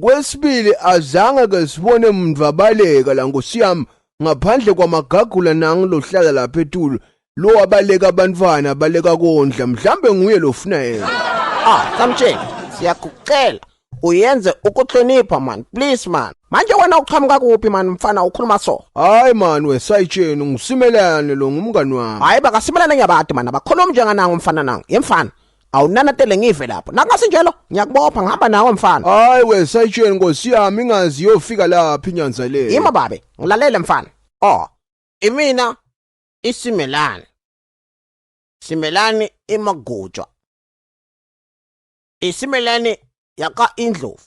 Kwesibili azange ke sibone muntu abaleka la nkosi yami ngaphandle kwamagagula nangu lohlala lapha etulo lo abaleka abantwana abaleka kondla mhlambe nguye lofuna yena ah samtsheni siyakucela uyenze ukuhlonipha man please man manje wena uqhamuka kuphi man mfana ukhuluma so hayi man wesayitsheni ngisimelane lo ngumngani wami hayi bakasimelane ngiyabati man abakhulumi njenganango mfana nango yemfana awunanatele ngive lapho nakungasinjalo ngiyakubopha ngihamba nawe mfana hayi we sayitsheni nkosi yami ingazi yofika laphi inyanza le yima babe ngilalele mfana oh imina isimelani simelani imagujwa isimelani yaka indlovu